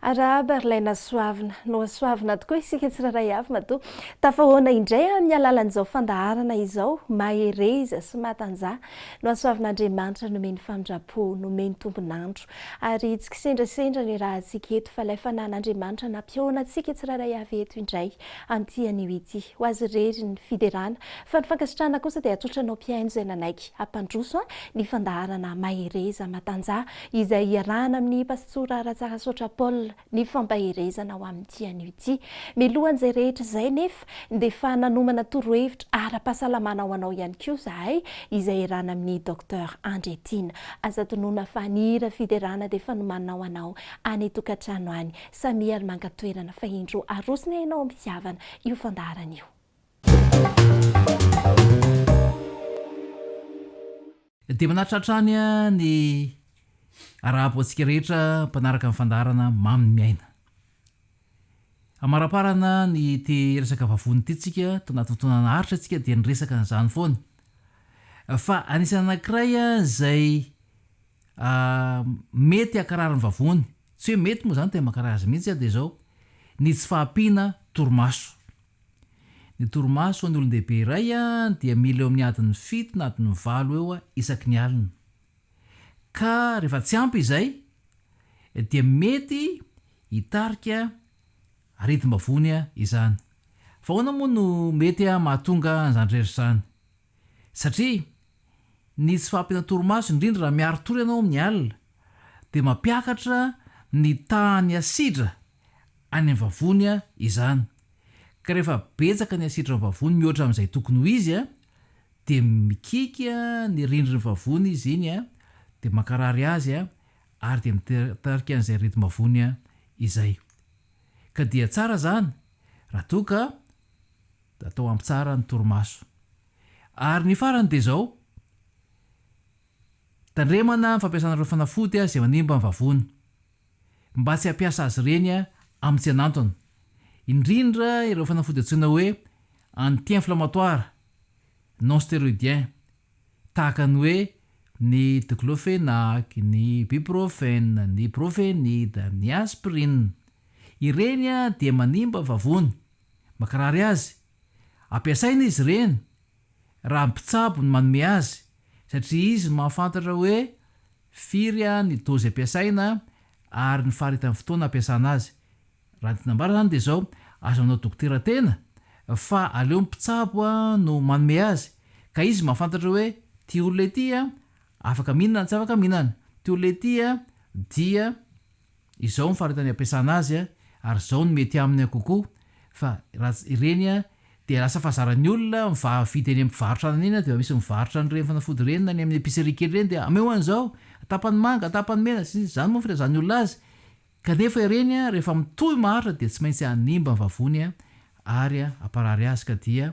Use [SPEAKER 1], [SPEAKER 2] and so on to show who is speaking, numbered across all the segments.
[SPEAKER 1] Arahaba ry lahy nasoavina, nohasoavina tokoa isika tsirairay avy matoa tafahoana indray amin'ny alalan'izao fandaharana izao mahereza sy matanjaha nohasoavin'Andriamanitra nomeny famindram-po nomeny tombon'andro ary tsy kisendrasendra ny rahantsika eto fa ilay fanan'Andriamanitra nampihoana antsika tsirairay avy eto indray an'ity anio ity. Ho azy irery ny fiderana, fa ny fankasitrahana kosa dia tsotra anao mpihaino izay nanaiky hampandroso ny fandaharana Mahereza Matanjaha izay iarahana amin'ny Pastora Ratsarasaotra Paul ny fampaherezana ho amin'ity anio ity. Milohan'izay rehetra izay nefa dia efa nanomana torohevitra ara-pahasalamana ho anao ihany koa izahay izay iarahana amin'i Docteur Andriatiana. Aza adinoina fa ny hira fiderana dia efa nomanina ho anao any an-tokantrano any. Samia ry manga toerana fa indro arosony hainao amin'ny fitiavana io fandaharana io.
[SPEAKER 2] Dia manaritra hatrany ny arahabo antsika rehetra mpanaraka ny fandaharana Mamy ny miaina. Amaraparana ny ity resaka vavony ity tsika to anaty fotoana naharitra tsika dia niresaka an'izany foana fa anisany anankiray izay mety hakarary ny vavony Tsy hoe mety moa izany tena mankarary azy mihitsy aho dia izao, ny tsy fahampiana torimaso. Ny torimaso ho an'ny olon-dehibe iray dia mila eo amin'ny adiny fito na adiny valo eo isaky ny alina. Ka rehefa tsy ampy izay dia mety hitarika aretim-bavony izany. Fa ahoana moa no mety mahatonga an'izany rehetra izany? Satria ny tsy fahampiana torimaso, indrindra raha miari-tory ianao amin'ny alina, dia mampiakatra ny tahan'ny asidra any amin'ny vavony izany. Ka rehefa betsaka ny asidra ao amin'ny vavony mihoatra amin'izay tokony ho izy dia mikiky ny rindrin'ny vavony izy iny dia mankarary azy ary dia mitarika an'izay aretim-bavony izay. Ka dia tsara izany raha toa ka Atao ampy tsara ny torimaso. Ary ny farany dia izao, tandremana ny fampiasana ireo fanafody izay manimba ny vavony, mba tsy hampiasa azy ireny amin'ny tsy an'antony, indrindra ireo fanafody antsoina hoe anti-inflammatoire non stéroïdien, tahaka ny hoe ny diclofenac, ny ibuprofène, ny profenid, ny aspirine. Ireny dia manimba vavony. Mankarary azy. Ampiasaina izy ireny raha mpitsabo no manome azy satria izy no mahafantatra hoe firy ny dozy ampiasaina ary ny faharitan'ny fotoana ampiasana azy. Raha ny tiana ambara izany dia izao, aza manao dokotera tena fa aleo ny mpitsabo no manome azy ka izy mahafantatra hoe ity olona ity afaka mihinana na tsy afaka mihinana, ity olona ity dia izao ny faritany ampiasana azy ary izao no mety aminy kokoa fa raha ireny dia lasa fazaran'ny olona mivaha vidy eny amin'ny mpivarotra anana eny dia misy mivarotra an'ireny fanafody ireny na ny amin'ny epicerie kely ireny dia ameo an'izao tapany manga tapany mena sy ny sisa izany moa ny filazan'ny olona azy kanefa ireny rehefa mitohy maharitra dia tsy maintsy hanimba ny vavony ary hamparary azy ka dia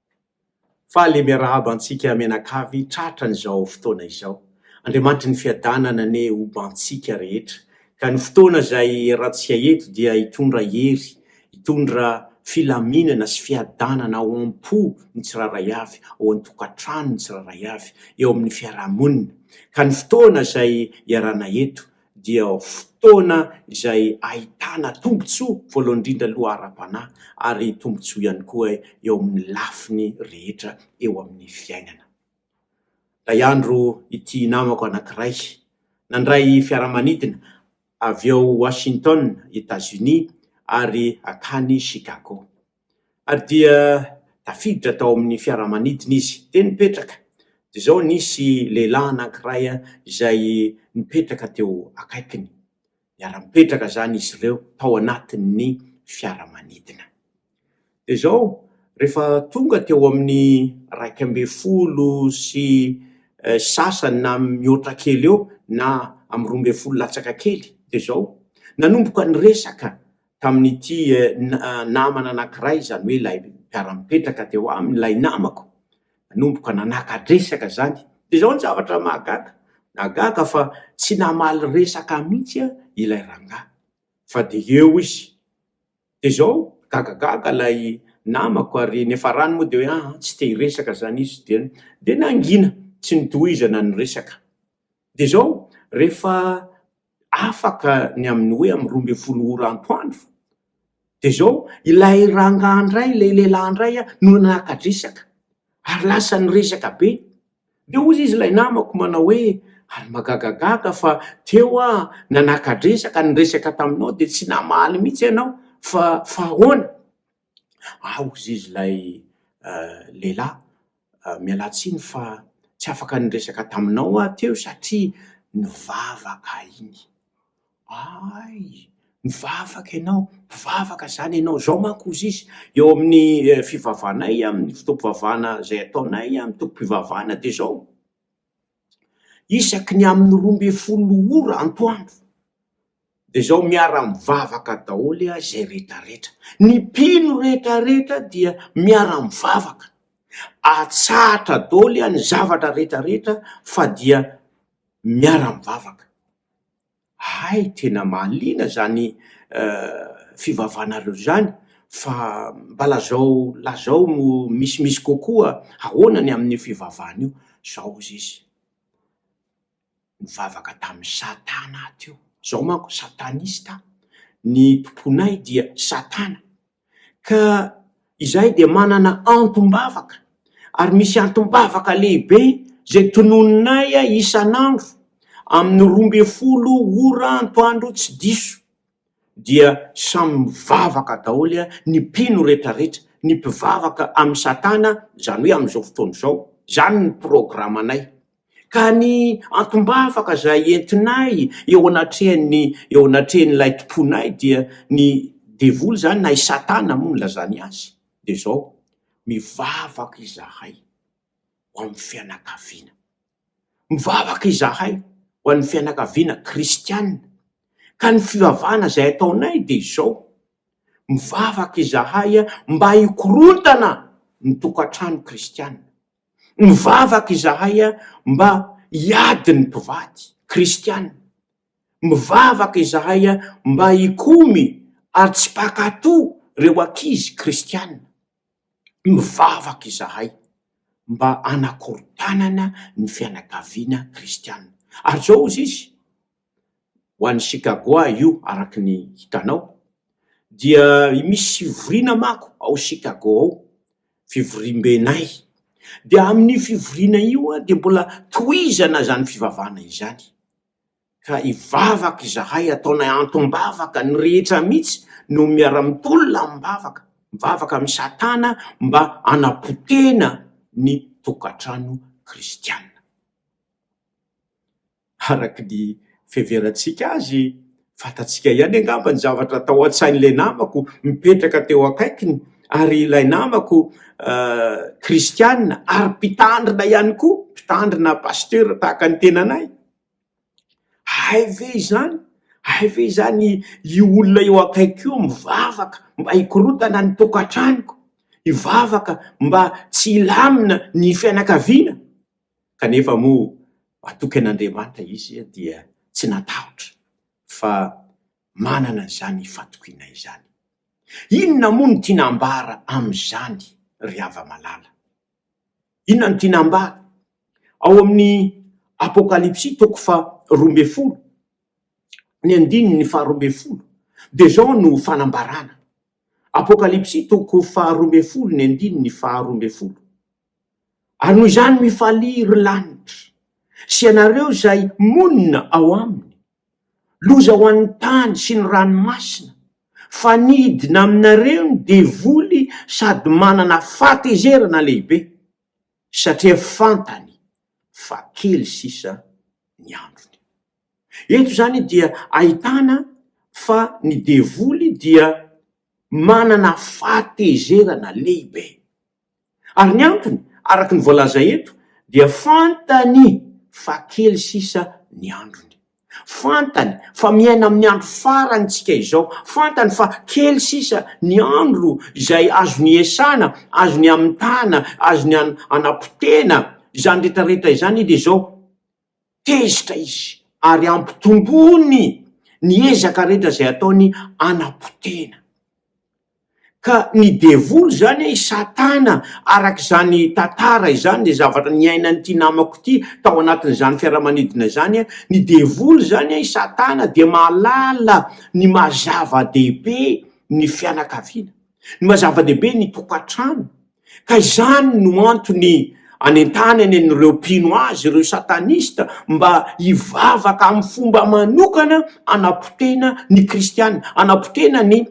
[SPEAKER 3] Faly miarahaba antsika mianakavy tratran'izao fotoana izao. Andriamanitry ny fiadanana anie ho antsika rehetra, ka ny fotoana izay iarahantsika eto dia hitondra hery, hitondra filaminana sy fiadanana ao am-po ny tsirairay avy, ao an-tokantrano ny tsirairay avy, eo amin'ny fiarahamonina. Ka ny fotoana izay iarahana eto dia fotoana izay ahitana tombontsoa voalohany indrindra aloha ara-panahy ary tombontsoa ihany koa eo amin'ny lafiny rehetra eo amin'ny fiainana. Indray andro ity namako anankiray nandray fiaramanidina avy ao Washington, Etats-Unis ary hankany Chicago. ary dia tafiditra tao amin'ny fiaramanidina izy. Dia nipetraka. Dia izao nisy lehilahy anankiray izay nipetraka teo akaikiny. Niara-nipetraka izany izy ireo tao anatin'ny fiaramanidina. Dia izao rehefa tonga teo amin'ny iraika ambin'ny folo sy sasany na mihoatra kely eo na amin'ny roa ambin'ny folo latsaka kely dia izao nanomboka niresaka tamin'ity namana anankiray, izany hoe ilay mpiara-mipetraka teo aminy, ilay namako, nanomboka nanaka-dresaka izany. Dia izao ny zavatra mahagaga, nahagaga fa tsy namaly resaka ahy mihitsy ilay rangahy, fa dia eo izy. Dia izao, gagagaga ilay namako ary niafarany moa dia hoe an, tsy te hiresaka izany izy, dia dia nangina, tsy nitohizana ny resaka. Dia izao, rehefa afaka ny amin'ny hoe amin'ny roa ambin'ny folo ora antoandro, dia izao, ilay rangahy indray, ilay lehilahy indray no naka-dresaka ary lasa niresaka be, dia hoy izy ilay namako manao hoe, ary magagagaga fa teo aho nanaka-dresaka niresaka taminao dia tsy namaly mihitsy ianao fa fa ahoana? Ah hozy izy ilay lehilahy, mialà tsiny fa tsy afaka niresaka taminao aho teo satria nivavaka iny. Hay! Nivavaka ianao? Mivavaka izany ianao? Izao manko hozy izy, eo amin'ny fivavahanay, amin'ny fotoam-pivavahana izay ataonay amin'ny tompom-pivavahana dia izao, isaky ny amin'ny roa ambin'ny folo ora antoandro, dia izao miara-mivavaka daholo aho izay rehetra rehetra, ny mpino rehetra rehetra dia miara-mivavaka, atsahatra daholo aho ny zavatra rehetra rehetra fa dia miara-mivavaka. Hay tena mahaliana izany fivavahanareo izany fa mba lazao lazao misimisy kokoa ahoana ny amin'io fivavahana io zao ozy izy nivavaka tamin'i satana teo, zaho manko satanista, ny tomponay dia satana. ka izahay dia manana antom-bavaka ary misy antom-bavaka lehibe izay tononinay isan'andro amin'ny roa ambin'ny folo ora antoandro tsy diso dia samy mivavaka daholo ny mpino retraretra ny mpivavaka amin'ny satana izany hoe amin'izao fotoana izao izany ny programanay Ka ny antom-bavaka izay entinay eo anatrehan'ny, eo anatrehan'ilay Tomponay dia ny devoly izany na i Satana moa nilazany azy dia izao, mivavaka izahay ho amin'ny fianakaviana, mivavaka izahay ho an'ny fianakaviana kristiana, ka ny fivavahana izay ataonay dia izao, mivavaka izahay mba hikorontana ny tokantrano kristiana. Mivavaka izahay mba hiady ny mpivady kristiana. Mivavaka izahay mba hikomy ary tsy mpankatò ireo ankizy kristiana. Mivavaka izahay mba hanakorontanana ny fianakaviana kristiana. Ary izao hozy izy. ho an'i Sikagoà io araka ny hitanao dia misy fivoriana manko ao Sikagoà ao, fivoriambenay dia amin'io fivoriana io aho dia mbola tohizana izany fivavahana izany ka hivavaka izahay ataonay antom-bavaka ny rehetra mihitsy no miara-mitolona amim-bavaka, mivavaka amin'i Satana mba hanapotehina ny tokantrano kristiana. Araka ny fiheverantsika azy, fantatsika ihany angamba ny zavatra tao an-tsain'ilay namako mipetraka teo akaikiny, ary ilay namako kristiana ary mpitandrina ihany koa, mpitandrina pasitera tahaka ny tenanay. Hay ve izany? Hay ve izany io olona eo akaiky io mivavaka mba hikorotana ny tokantranoko, hivavaka mba tsy hilamina ny fianakaviana? kanefa moa atokan'Andriamanitra izy dia tsy natahotra fa manana izany fatokiana izany. Inona moa no tiana ambara amin'izany ry hava-malala? Inona no tiana ambara? Ao amin'ny Apokalypsy toko faha roa ambin'ny folo, ny andininy faha roa ambin'ny folo dia izao no fanambarana, Apokalypsy toko faha roa ambin'ny folo ny andininy faha roa ambin'ny folo, Ary noho izany mifalia ry lanitra sy ianareo izay monina ao aminy. Loza ho an'ny tany sy ny ranomasina, fa nidina aminareo ny devoly sady manana fahatezerana lehibe, satria fantany fa kely sisa ny androny. Eto izany dia ahitana fa ny devoly dia manana fahatezerana lehibe. Ary ny antony, araka ny voalaza eto, dia fantany fa kely sisa ny androny. Fantany fa miaina amin'ny andro farany isika izao. Fantany fa kely sisa ny andro izay azony iasana, azony amitahana, azony anapotehana izany rehetra rehetra izany, dia izao, Tezitra izy ary ampitomboiny ny ezaka rehetra izay ataony hanapotehina. Ka ny devoly izany, i Satana, araka izany tantara izany, izay zavatra niainan'ity namako ity tao anatin'izany fiaramanidina izany, ny devoly izany, i Satana, dia mahalala ny maha-zava-dehibe ny fianakaviana, ny maha-zava-dehibe ny tokantrano. Ka izany no antony anentanany an'ireo mpino azy ireo satanista mba hivavaka amin'ny fomba manokana hanapotena ny kristiana, hanapotena ny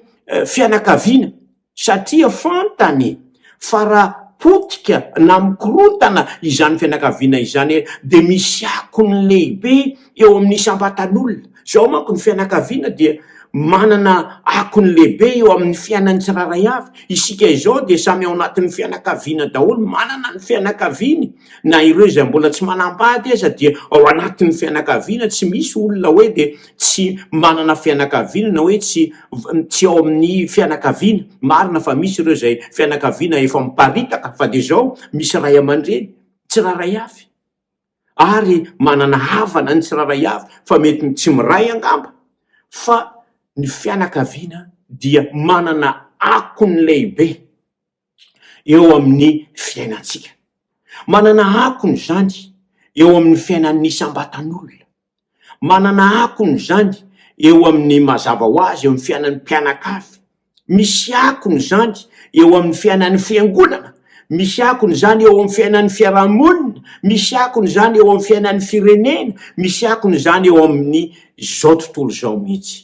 [SPEAKER 3] fianakaviana, satria fantany fa raha potika na mikorontana izany fianakaviana izany dia misy akony lehibe eo amin'ny isam-batan'olona. Izao manko ny fianakaviana dia manana akony lehibe eo amin'ny fiainan'ny tsirairay avy. Isika izao dia samy ao anatin'ny fianakaviana daholo, manana ny fianakaviany. Na ireo izay mbola tsy manambady aza dia ao anatin'ny fianakaviana, tsy misy olona hoe dia tsy manana fianakaviana na hoe tsy tsy ao amin'ny fianakaviana. Marina fa misy ireo izay fianakaviana efa miparitaka fa dia izao misy ray aman-dreny tsirairay avy. ary manana havana ny tsirairay avy fa mety ny tsy miray angamba fa ny fianakaviana dia manana akony lehibe eo amin'ny fiainantsika. Manana akony izany eo amin'ny fiainan'ny isam-batan'olona. Manana akony izany eo amin'ny mazava ho azy eo amin'ny fiainan'ny mpianakavy, misy akony izany eo amin'ny fiainan'ny fiangonana, misy akony izany eo amin'ny fiainan'ny fiarahamonina, misy akony izany eo amin'ny fiainan'ny firenena, misy akony izany eo amin'ny izao tontolo izao mihitsy.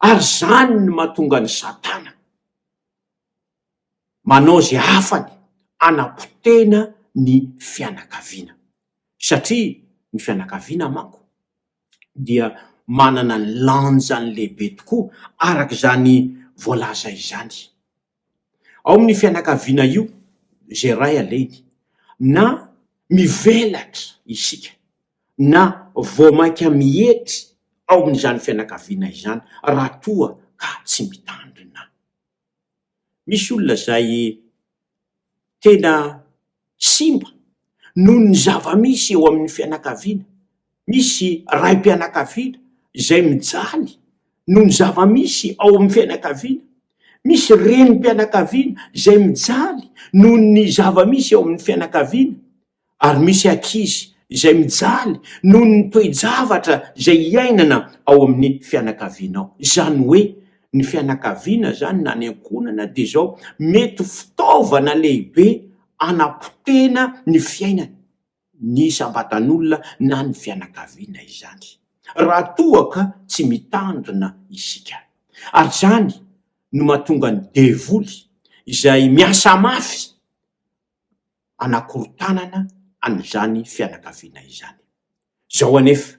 [SPEAKER 3] Ary izany no mahatonga an'i Satana. Manao izay hafany hanapotehina ny fianakaviana, satria ny fianakaviana manko dia manana ny lanjany lehibe tokoa araka izany voalaza izany. Ao amin'ny fianakaviana io izay ray alainy na mivelatra isika na vao mainka mietry ao amin'izany fianakaviana izany raha toa ka tsy mitandrina. Misy olona izay tena simba noho ny zava-misy eo amin'ny fianakaviana. Misy raim-pianakaviana izay mijaly noho ny zava-misy ao amin'ny fianakaviana. Misy renim-pianakaviana izay mijaly noho ny zava-misy ao amin'ny fianakaviana. ary misy ankizy izay mijaly noho ny toe-javatra izay iainana ao amin'ny fianakaviana ao. Izany hoe ny fianakaviana izany na ny ankohonana dia izao, mety ho fitaovana lehibe hanapotehina ny fiainana ny isam-batan'olona na ny fianakaviana izany, raha toa ka tsy mitandrina isika. Ary izany no mahatonga ny devoly izay miasa mafy hanakorontanana an'izany fianakaviana izany. Izao anefa,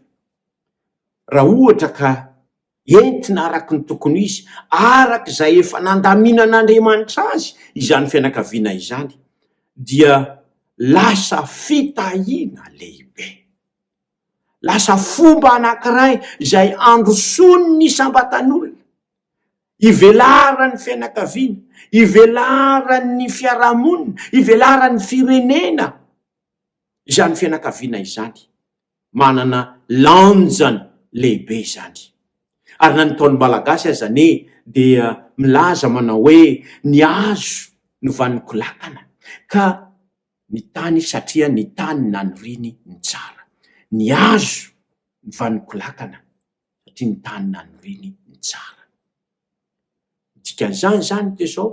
[SPEAKER 3] raha ohatra ka entina araka ny tokony ho izy, araka izay efa nandaminan'Andriamanitra azy izany fianakaviana izany, dia lasa fitahiana lehibe. Lasa fomba anankiray izay handrosoan'ny isam-batan'olona. Ivelaran'ny fianakaviana, ivelaran'ny fiarahamonina, ivelaran'ny firenena izany fianakaviana izany. Manana lanjany lehibe izany. Ary na ny Ntaolo Malagasy aza anie dia milaza manao hoe ny hazo no vanon-ko lakana ka ny tany satria ny tany naniriany ny tsara. Ny hazo no vanon-ko lakana. satria ny tany nanoriany ny tsara. Ny dikan'izany izany dia izao,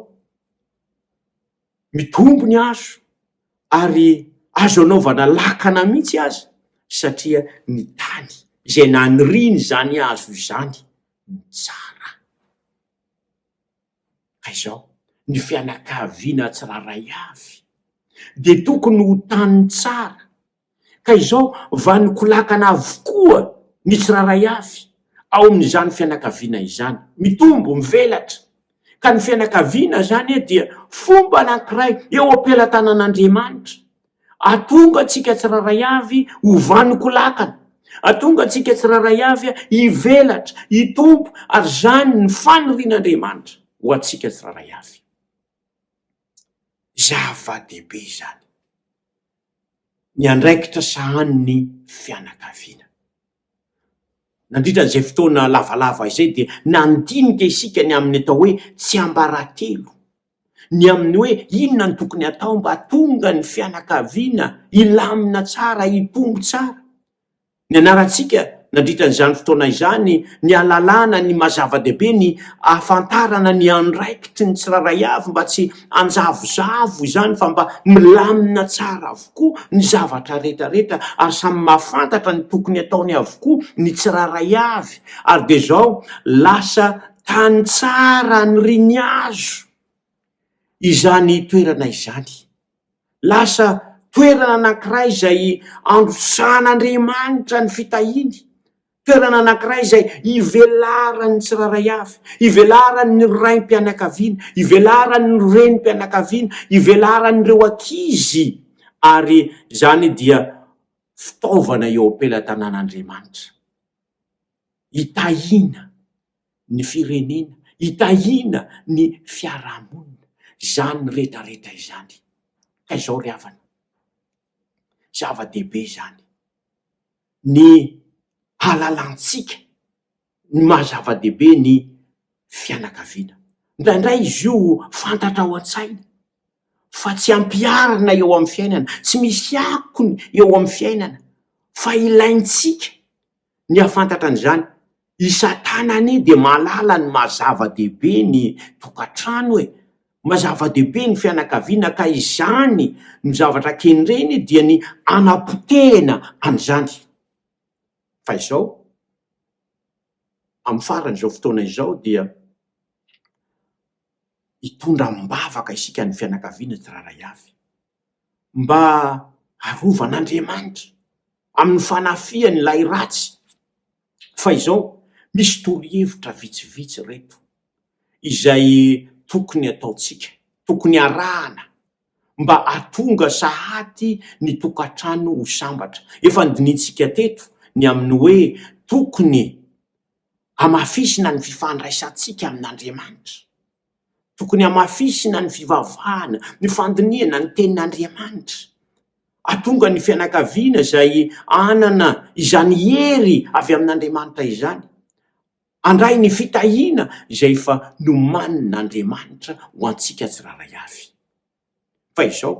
[SPEAKER 3] mitombo ny hazo ary azo anaovana lakana mihitsy aza satria ny tany izay nanoriany izany hazo izany no tsara. Ka izao, ny fianakaviana tsirairay avy dia tokony ho tany tsara. Ka izao, vanon-kolakana avokoa ny tsirairay avy ao amin'izany fianakaviana izany. Mitombo, mivelatra. Ka ny fianakaviana izany dia fomba anankiray eo am-pelatanan'Andriamanitra. Atonga antsika tsirairay avy ho vanon-kolakana. Atonga antsika tsirairay avy hivelatra, hitombo, ary izany ny fanirian'Andriamanitra ho antsika tsirairay avy. Zava-dehibe izany. ny andraikitra sahanin'ny fianakaviana. Nandritra izay fotoana lavalava izay dia nandinika isika ny amin'ny atao hoe tsiambaratelo, ny amin'ny hoe inona no tokony hatao mba hahatonga ny fianakaviana hilamina tsara, hitombo tsara. Nianarantsika nandritra izany fotoana izany ny halalana ny maha zava-dehibe ny hahafantarana ny andraikitry ny tsirairay avy mba tsy hanjavozavo izany fa mba milamina tsara avokoa ny zavatra rehetrarehetra ary samy mahafantatra ny tokony ataony avokoa ny tsirairay avy ary dia izao lasa tany tsara niriniazo izany toerana izany. Lasa toerana anankiray izay androsahan'Andriamanitra ny fitahiany, toerana anankiray izay ivelaran'ny tsirairay avy, ivelaran'ny raim-pianakaviana, ivelaran'ny renim-pianakaviana, ivelaran'ireo ankizy, ary izany dia fitaovana eo am-pelatanan'Andriamanitra, hitahiana. ny firenena, hitahiana ny fiarahamonina izany rehetrarehetra izany. Ka izao ry havana, zava-dehibe izany, ny halalantsika ny maha zava-dehibe ny fianakaviana. Indraindray izy io fantatra ao an-tsaina fa tsy ampiharina eo amin'ny fiainana, tsy misy akony eo amin'ny fiainana fa ilaintsika Ny hahafantatra an'izany, i Satana anie dia mahalala ny maha zava-dehibe ny tokantrano e! Maha zava-dehibe ny fianakaviana ka izany no zavatra kendreny dia ny hanapotehina an'izany. Fa izao, amin'ny faran'izao fotoana izao dia hitondra am-bavaka isika ny fianakaviana tsirairay avy. mba arovan'Andriamanitra amin'ny fanafihany ilay ratsy. Fa izao, misy torohevitra vitsivitsy ireto izay tokony ataontsika, tokony arahana mba hahatonga sahady ny tokantrano ho sambatra. Efa nodinihintsika teto ny amin'ny hoe tokony hamafisina ny fifandraisantsika amin'Andriamanitra. Tokony hamafisina ny fivavahana, ny fandinihana ny tenin'Andriamanitra. Hahatonga ny fianakaviana izay hanana izany hery avy amin'Andriamanitra izany, handray ny fitahiana izay efa nomanin'Andriamanitra ho antsika tsirairay avy. Fa izao,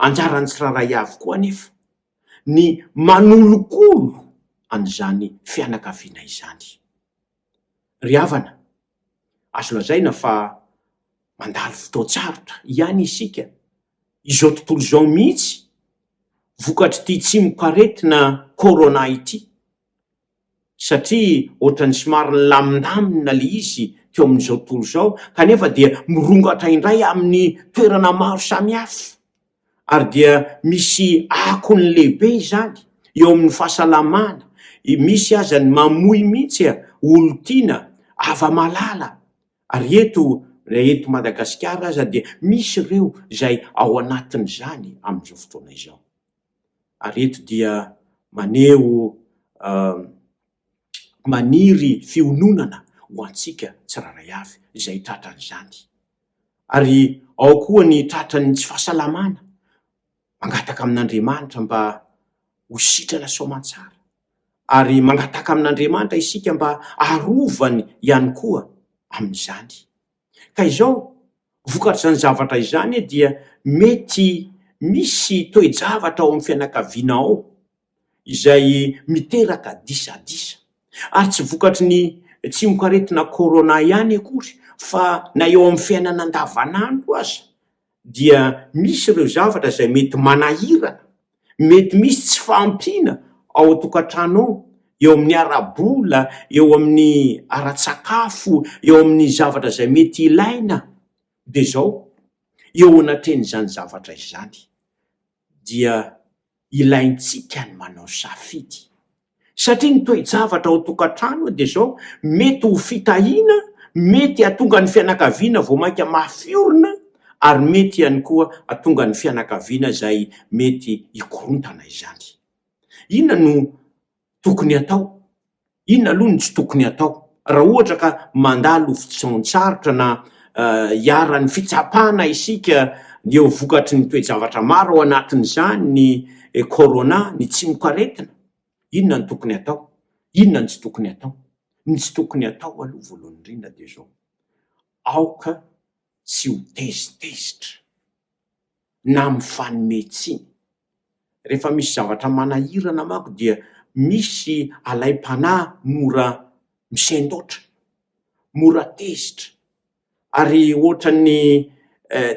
[SPEAKER 3] anjaran'ny tsirairay avy koa anefa ny manolokolo an'izany fianakaviana izany. Ry havana, azo lazaina fa mandalo fotoan-tsarotra ihany isika izao tontolo izao mihitsy vokatr'ity tsimokaretina corona ity. satria ohatran'ny somary nilamindamina ilay izy teo amin'izao tontolo izao kanefa dia mirongatra indray amin'ny toerana maro samihafa ary dia misy akony lehibe izany eo amin'ny fahasalamana, misy aza ny mamoy mihitsy a, olon-tiana, hava-malala ary eto raha eto Madagasikara aza dia misy ireo izay ao anatin'izany amin'izao fotoana izao. ary eto dia maneho maniry fiononana ho antsika tsirairay avy izay tratran'izany. Ary ao koa ny tratran'ny tsy fahasalamana, mangataka amin'Andriamanitra mba ho sitrana soamantsara, ary mangataka amin'Andriamanitra isika mba arovany ihany koa amin'izany. Ka izao, vokatr'izany zavatra izany dia mety misy toe-javatra ao amin'ny fianakaviana ao izay miteraka disadisa. Ary tsy vokatry ny tsimokaretina corona ihany akory fa na eo amin'ny fiainana andavanandro aza dia misy ireo zavatra izay mety manahirana, mety misy tsy fahampiana ao an-tokantrano ao, eo amin'ny ara-bola, eo amin'ny ara-tsakafo, eo amin'ny zavatra izay mety ilaina, dia izao, eo anatrehan'izany zavatra izany. dia ilaintsika ny manao safidy satria ny toe-javatra ao an-tokantrano dia izao mety ho fitahiana, mety hahatonga ny fianakaviana vao mainka mafy orina ary mety ihany koa hahatonga ny fianakaviana izay mety hikorontana izany. Inona no tokony atao? Inona aloha no tsy tokony atao raha ohatra ka mandalo fotoan-tsarotra na iharan'ny fitsapana isika dia ho vokatry ny toe-javatra maro ao anatin'izany ny corona, ny tsimokaretina? Inona no tokony atao? Inona no tsy tokony atao? Ny tsy tokony atao aloha voalohany indrindra dia izao, aoka tsy ho tezitezitra. na mifanome tsiny. Rehefa misy zavatra manahirana manko dia misy alaim-panahy mora misendoatra, mora tezitra ary ohatran'ny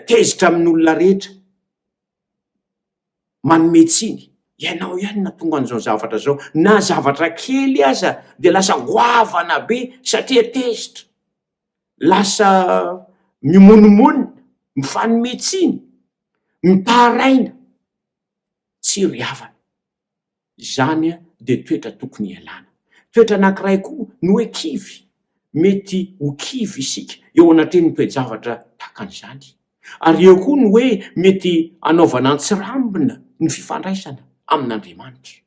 [SPEAKER 3] tezitra amin'olona rehetra, manome tsiny. Ianao ihany no nahatonga an'izao zavatra izao, na zavatra kely aza dia lasa goavana be satria tezitra. lasa mimonomonona, mifanome tsiny, mitaraina, tsy ry havana. Izany dia toetra tokony hialana. Toetra anankiray koa ny hoe kivy, mety ho kivy isika eo anatrehan'ny toe-javatra tahaka an'izany. Ary eo koa ny hoe mety hanaovana an-tsirambina ny fifandraisana amin'Andriamanitra.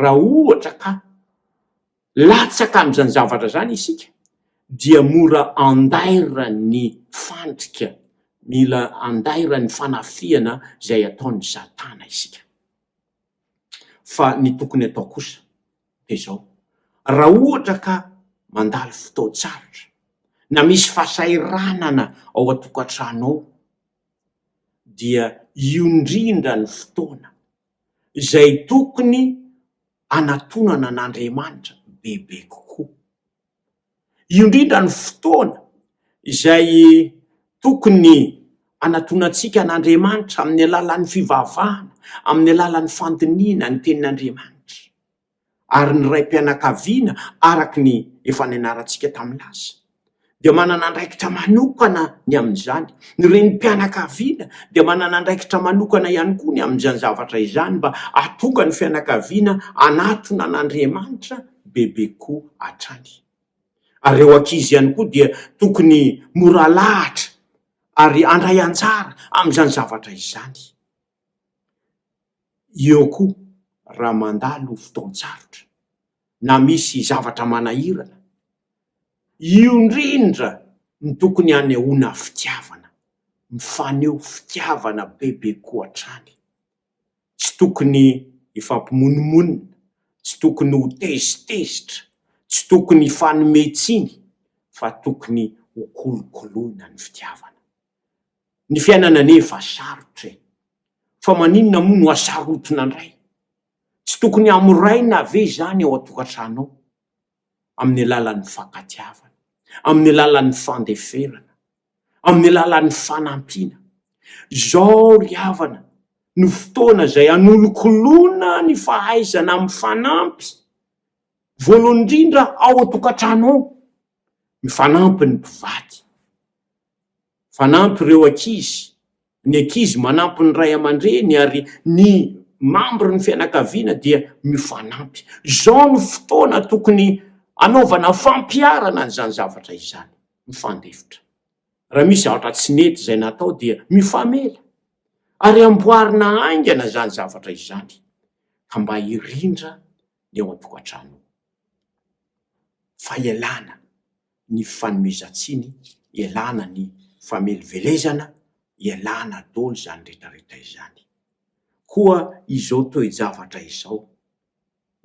[SPEAKER 3] raha ohatra ka latsaka amin'izany zavatra izany isika dia mora andairan'ny fandrika, mila andairan'ny fanafihana izay ataon'i Satana isika. Fa ny tokony atao kosa dia izao, raha ohatra ka mandalo fotoan-tsarotra na misy fahasahiranana ao an-tokantrano ao dia io indrindra ny fotoana, izay tokony hanatonana an'Andriamanitra bebe kokoa. Io indrindra no fotoana izay tokony hanatonantsika an'Andriamanitra amin'ny alalan'ny fivavahana, amin'ny alalan'ny fandinihina ny tenin'Andriamanitra. ary ny raim-pianakaviana araka ny efa nianarantsika tamin'ny lasa dia manana andraikitra manokana ny amin'izany. Ny renim-pianakaviana dia manana andraikitra manokana ihany koa ny amin'izany zavatra izany mba hahatonga ny fianakaviana hanatona an'Andriamanitra bebe koa hatrany. Ary ireo ankizy ihany koa dia tokony mora lahatra ary handray anjara amin'izany zavatra izany. Eo koa, raha mandalo fotoan-tsarotra na misy zavatra manahirana, io indrindra no tokony hanehoana fitiavana, mifaneho fitiavana bebe koa hatrany. Tsy tokony hifampimonomonona, tsy tokony ho tezitezitra, tsy tokony hifanome tsiny fa tokony ho kolokoloina ny fitiavana. Ny fiainana anie efa sarotra e! Fa maninona moa no hasarotina indray? Tsy tokony hamoraina ve izany ao an-tokantrano ao? Amin'ny alalan'ny mifankatiavana, amin'ny alalan'ny fandeferana, amin'ny alalan'ny fanampiana. Izao ry havana no fotoana izay hanolokoloana ny fahaizana mifanampy, voalohany indrindra ao an-tokantrano ao. Mifanampy ny mpivady. Mifanampy ireo ankizy. Ny ankizy manampy ny ray aman-dreny ary ny membre ny fianakaviana dia mifanampy. Izao no fotoana tokony hanaovana fampiharana an'izany zavatra izany. Mifandefitra. Raha misy zavatra tsy nety izay natao dia mifamela. Ary amboarina haingana izany zavatra izany ka mba hirindra ny ao an-tokantrano ao. fa ialana ny fanomezan-tsiny, ialana ny famelivelezana, ialana daholo izany rehetrarehetra izany. Koa izao toe-javatra izao,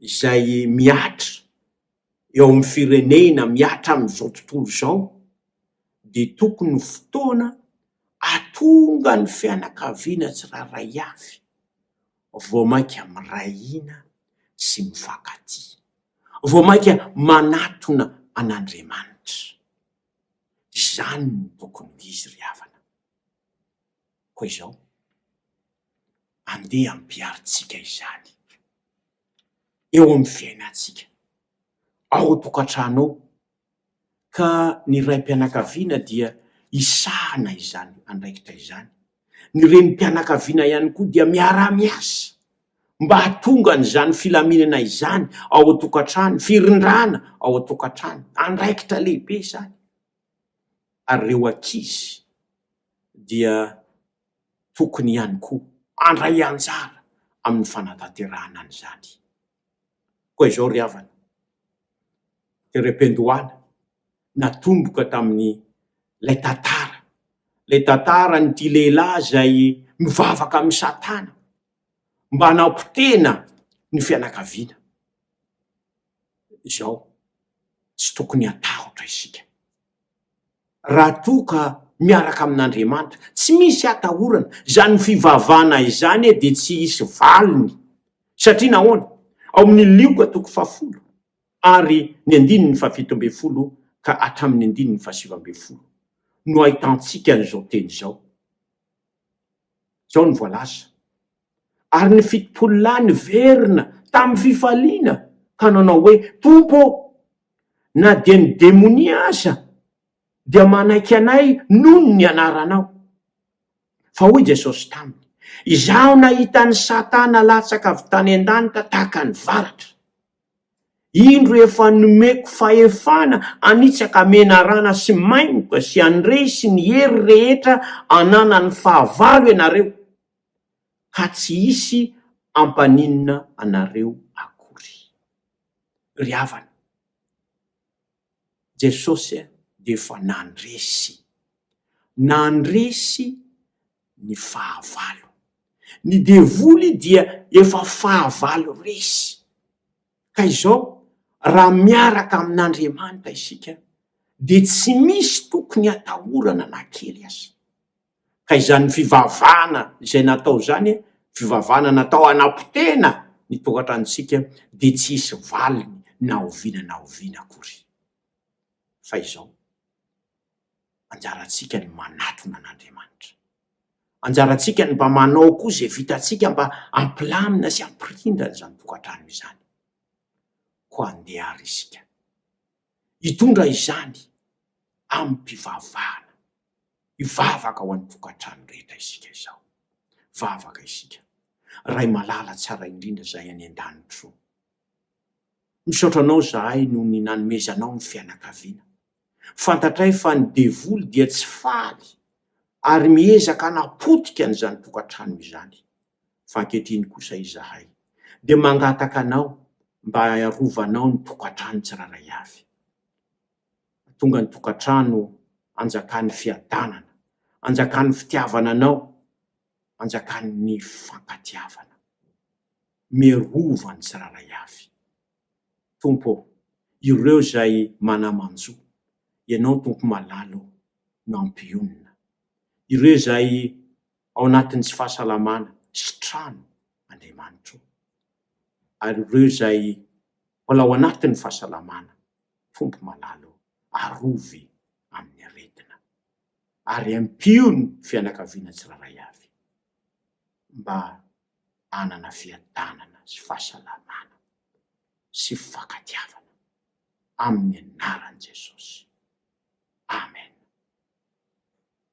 [SPEAKER 3] izay mihatra eo amin'ny firenena, mihatra amin'izao tontolo izao, dia tokony ho fotoana ahatonga ny fianakaviana tsirairay avy vao mainka miray hina sy mifankatia, vao mainka manatona an'Andriamanitra. Izany no tokony ho izy ry havana. Koa izao, andeha ampiharintsika izany eo amin'ny fiainantsika, ao an-tokantrano ao, ka ny raim-pianakaviana dia hisahana izany andraikitra izany. Ny renim-pianakaviana ihany koa dia miara-miasa mba hahatonga an'izany filaminana izany ao an-tokantrano, firindrana ao an-tokantrano. Andraikitra lehibe izany. Ary ireo ankizy dia tokony ihany koa handray anjara amin'ny fanatanterahana an'izany. Koa izao ry havana, dia Rependoala natomboka tamin'ilay tantara, ilay tantaran'ity lehilahy izay mivavaka amin'i Satana mba hanampotehina ny fianakaviana. Izao, tsy tokony hatahotra isika. raha toa ka miaraka amin'Andriamanitra. Tsy misy atahorana, izany fivavahana izany e dia tsy hisy valiny. Satria nahoana? Ao amin'ny Lioka toko fahafolo ary ny andininy fahafito ambin'ny folo ka hatramin'ny andininy fahasivy ambin'ny folo no ahitantsika an'izao teny izao. Izao no voalaza. Ary ny fitopolo lahy niverina tamin'ny fifaliana ka nanao hoe, Tompo ô, na dia ny demonia aza dia manaiky anay noho ny anaranao. Fa hoy Jesosy taminy, Izaho nahita an'i Satana latsaka avy tany an-danitra tahaka ny varatra. Indro efa nomeko fahefana hanitsaka menarana sy maingoka sy handresy ny hery rehetra ananan'ny fahavalo ianareo. ka tsy hisy hampaninona anareo akory. Ry havana, Jesosy dia efa nandresy. Nandresy ny fahavalo. Ny devoly dia efa fahavalo resy. Ka izao, raha miaraka amin'Andriamanitra isika, dia tsy misy tokony hatahorana na kely aza. Ka izany fivavahana izay natao izany, fivavahana natao hanapotehina ny tokantranontsika, dia tsy hisy valiny na oviana na oviana akory. Fa izao, anjarantsika ny manatona an'Andriamanitra. Anjarantsika ny mba manao koa izay vitantsika mba hampilamina sy hampirindra an'izany tokantrano izany. Koa andeha àry isika. Hitondra izany amim-pivavahana, hivavaka ho an'ny tokantrano rehetra isika izao. Vavaka isika. Ray malala tsara indrindra izahay any an-danitro ô, misaotra Anao izahay noho ny nanomezanao ny fianakaviana. Fantatray fa ny devoly dia tsy faly ary miezaka hanapotika an'izany tokantrano izany. fa ankehitriny kosa izahay dia mangataka anao mba arovanao ny tokantrano tsirairay avy. Hatonga ny tokantrano anjakan'ny fiadanana, anjakan'ny fitiavana anao, anjakan'ny fifankatiavana. Miarova ny tsirairay avy. Tompo ô, ireo izay manamanjo, Ianao Tompo malala ô, no hampionona. Ireo izay ao anatin'ny fahasalamana sy trano Andriamanitro. Ary ireo izay mbola ao anatin'ny fahasalamana, fomba malala eo, arovy amin'ny aretina. Ary ampio ny fianakaviana tsirairay avy mba hanana fiadanana sy fahasalamana sy fifankatiavana. Amin'ny anaran'i Jesosy. Amen.